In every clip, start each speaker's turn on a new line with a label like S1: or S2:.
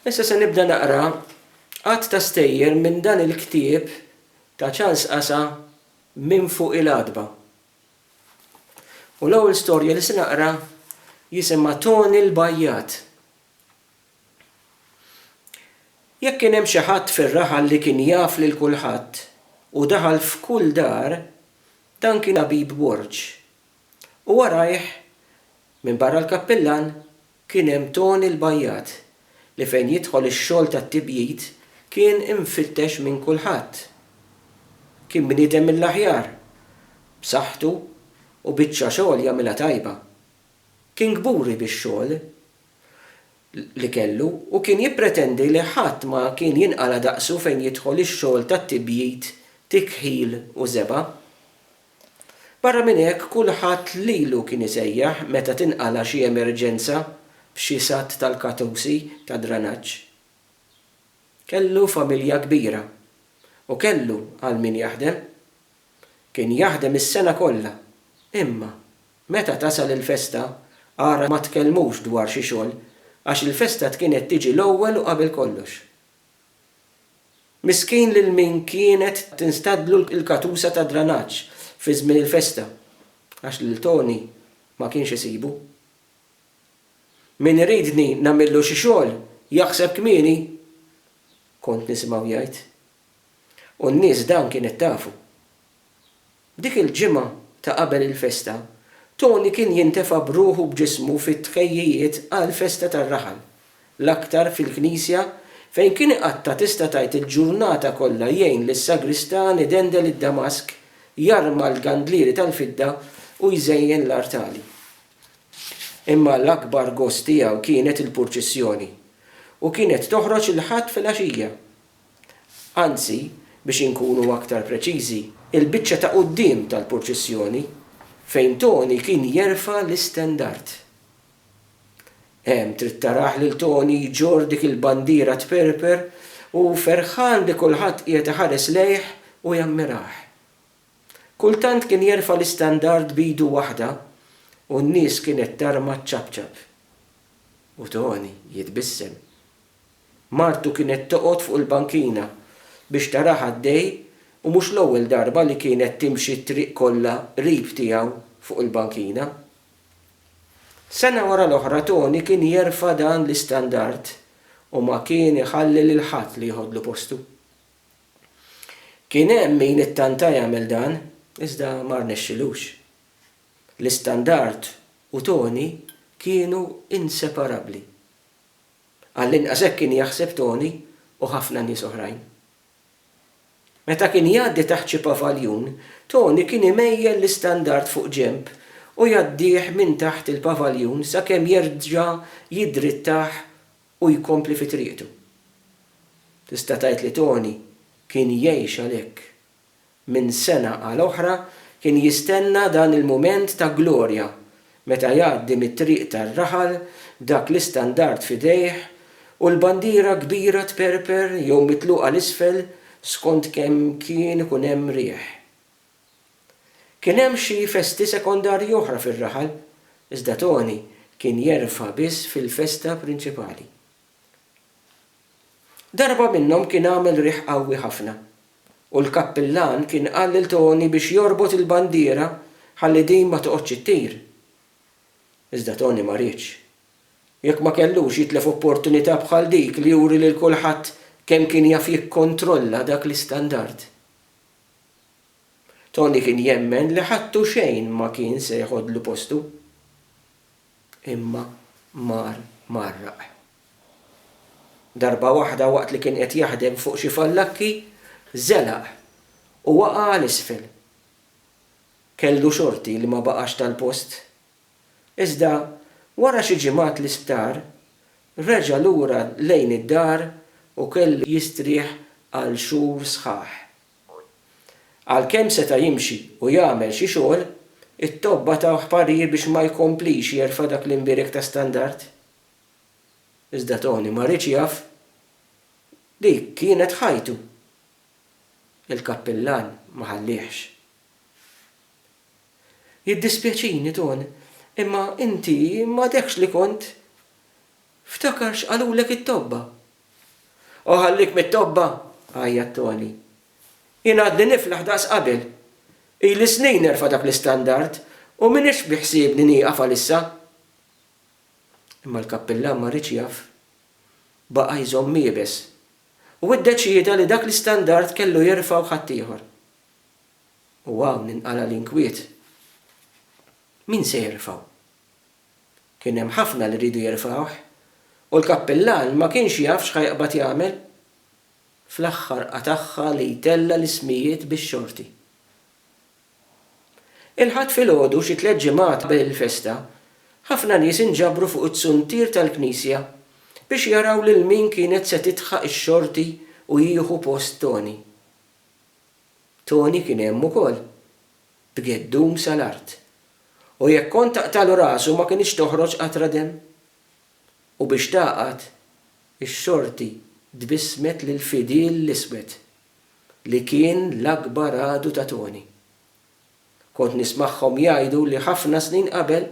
S1: Issa se nibda naqra għadd ta' stejjer minn dan il-ktieb ta' Charles Qasa Minn Fuq il-Għatba. U l-ewwel storja li se naqra jisimha Toni l-Bajjat. Jekk kien hemm xi ħadd fir-raħal li kien jaf lil kulħadd u daħal f'kull dar, dan kien Abib Borg, u warajh, minbarra l-kappillan, kien hemm Toni l-bajjat li fejn jidħol ix-xogħol tat-tibjid kien imfittex minn kulħadd. Kien bniedem mill-aħjar, b'saħħtu u biċċa xogħol jagħmilha tajba. Kien kburi bix-xogħol li kellu u kien jippretendi li ħadd ma kien jinqala' daqsu fejn jidħol ix-xogħol tat-tibjid, tikħil u żebgħa. Barra minn hekk kulħadd lilu kien isejjaħ meta tinqala' xi emerġenza f'xi satt tal-katusi tad-dranaġġ. Kellu familja kbira u kellu għal min jaħdem. Kien jaħdem is-sena kollha imma meta tasal il-festa ara ma tkellmux dwar xi xogħol għax il-festa tkienet tiġi l-ewwel u qabel kollox. Miskin lil min kienet tinstadlu l-katusa tad-dranaġġ fi żmien il-festa għax lil Toni ma kienx isibu. Min iridni nagħmillu xi xogħol jaħseb kmieni, kont nisimgħu jgħid. U n-nies dan kienet tafu. Dik il-ġimgħa ta' qabel il-festa, Tony kien jintefa' b'ruħu u b'ġismu fit-tħejjijiet għall-festa tar-raħal, l-aktar fil-knisja fejn kien iqatta' tista' tgħid il-ġurnata kollha jgħin lis-sagristan idendel id-damask, jarma l-gandlieri tal-fidda u jżejjen l-artali. Imma l-akbar gost tiegħu kienet il-purċissjoni, u kienet toħroġ il-Ħadd filgħaxija. Anzi, biex inkunu aktar preċiżi, il-biċċa ta' quddiem tal-purċissjoni, fejn Toni kien jerfa' l-istendard. Hemm trid tarah lil Toni jġorr dik il-bandiera tperper u ferħan li kulħadd qiegħed iħares lejh u jammirah. Kultant kien jerfa' l-istandard b'idu waħda u n-nies kienet tarma ċċapċap. U Toni jitbissem. Martu kienet toqgħod fuq il-bankina biex tarah għaddej u mhux l-ewwel darba li kienet timxi t-triq kollha qrib tiegħu fuq il-bankina. Sena wara l-oħra Toni kien jerfa' dan l-istandard u ma kien iħalli lil ħadd li jeħodlu postu. Kien hemm min ittanta jagħmel dan iżda ma rnexxilux. L-istandard u Toni kienu inseparabbli. Għall-inqas hekk kien jaħseb Tony u ħafna nies oħrajn. Meta kien jgħaddi taħt xi pavaljun, Tony kien imejjel l-istandard fuq ġenb u jgħaddih minn taħt il-pavaljun sakemm jerġa' jiddrittah u jkompli fi triqtu. Tista' tgħid li Tony kien jgħix għalhekk. minn sena għal oħra, kien jistenna dan il-mument ta' glorja meta jgħaddi mit-triq tar-raħal b'dak l-istandard f'idejh u l-bandiera kbira tperper jew mitluqa 'l isfel skont kemm kien ikun hemm riħ. Kien hemm xi festi sekondarji oħra fir-raħal, iżda Toni kien jerfa' biss fil-festa prinċipali. Darba minnhom kien għamel riħ qawwi ħafna u l-kappillan kien qal lil Toni biex jorbot il-bandiera ħalli din ma toqgħodx ittir. Iżda Toni ma riedx. Jekk ma kellux jitlef opportunità bħal dik li juri lil kulħadd kemm kien jaf jikkontrolla dak l-istandard. Toni kien jemmen li ħadd u xejn ma kien se jeħodlu postu. Imma mar mgħarraq. Darba waħda waqt li kien qed jaħdem fuq xi fallakki, żelaq u waqa' għal isfel. Kellu xorti li ma baqax tal-post. Iżda wara xi ġimgħat l-isptar, reġa' lura lejn id-dar u kellu jistrieħ għal xhur sħaħ. Għalkemm seta' jimxi u jagħmel xi xogħol, it-tobba tawh parir biex ma jkomplix jerfa' dak l-imbierek ta' standard. Iżda Tony ma riedx jaf li kienet ħajtu. Il-kappillan ma ħalliehx. Jiddispjaċini, Tony, imma inti m'għadekx li kont. Ftakar x'qalulek it-tobba. O ħallik mit-tobba! għajjat Toni. Jien għadni niflaħ daqs qabel. Ili snin nerfa' dak l-istandard u m'iniex biħsiebni nieqaf għalissa. Imma l-kappillan ma riedx jaf. Baqa' jżomm iebes. U ddeċieda li dak l-istandard kellu jerfgħu ħaddieħor. U hawn inqala' l-inkwiet. Min se jerfgħu? Kien hemm ħafna li riedu jerfgħuh, u l-kappillan ma kienx jaf x'ħa jaqbad jagħmel. Fl-aħħar qatagħha li jtella' l-ismijiet bix-xorti. Il-Ħadd filgħodu xi tliet ġimgħat qabel il-festa, ħafna nies inġabru fuq iz-zuntier tal-knisja biex jaraw lil min kienet se tidħaq ix-xorti u jieħu post Toni. Toni kien hemm ukoll. b'geddum sa l-art, u jekk kont taqtagħlu rasu ma kinitx toħroġ qatra demm? U biex tagħqad, ix-xorti tbissmet lil Fidil l-Iswed, li kien l-akbar għadu ta' Toni. Kont nismagħhom jgħidu li ħafna snin qabel,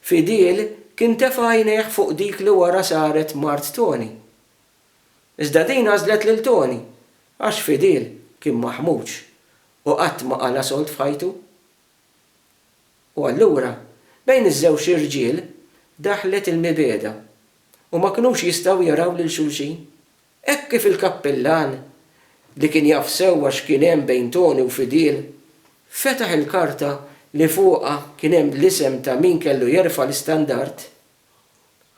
S1: Fidil kien tefa' għajnejh fuq dik li wara saret mart Toni. Iżda din għażlet lil Toni, għax Fidil kien maħmuġ Hu qatt ma qala sold f'ħajtu. U allura, bejn iż-żewġ irġiel daħlet il-mibegħda u ma kinux jistgħu jaraw lil xulxin. Hekk kif il-kappillan, li kien jaf sewwa x'kien hemm bejn Toni u Fidil, fetaħ il-karta li fuqha kien hemm l-isem ta' min kellu jerfa' l-istandard,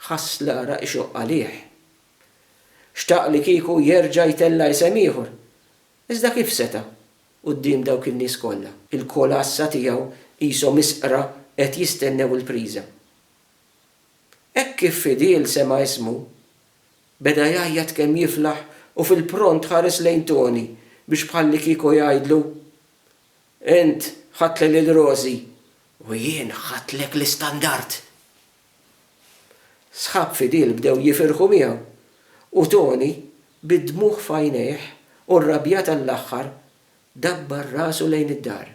S1: ħass l-għaraq ixoqq għalih. Xtaq li kieku jerġa' jtella' isem ieħor, Iżda kif seta', quddiem dawk in-nies kollha? Il-kolassa tiegħu qishom isqra qed jistennew il-priża. Hekk kif fidil sema' ismu, beda jgħajjat kemm jiflaħ u fil-pront ħares lejn Toni biex bħallikieku jgħidlu, Int ħadtli lil Rosie u jien ħadtlek l-istandard! Sħab fidil bdew jifirħu miegħu, u Tony, bid-dmugħ f'għajnejh u rrabjat għall-aħħar, dabbar rasu lejn id-dar.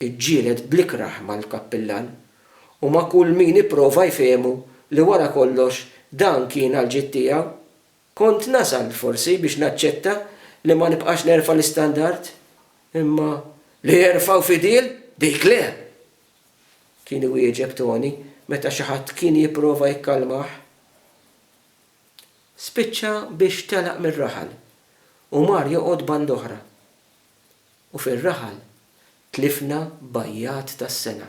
S1: Iġġieled bl-ikrah mal-kappillan u ma' kull min ipprova jfehmu li wara kollox dan kien għall-ġid tiegħu. Kont nasal, forsi, biex naċċetta li ma nibqax nerfa' l-istandard, imma li jerfgħu fidil, dik le! kien iwieġeb Tony meta xi ħadd kien jipprova jikkalmah. Spiċċa biex telaq mir-raħal u mar joqgħod band'oħra. U fir-raħal tlifna bajjat tas-sena.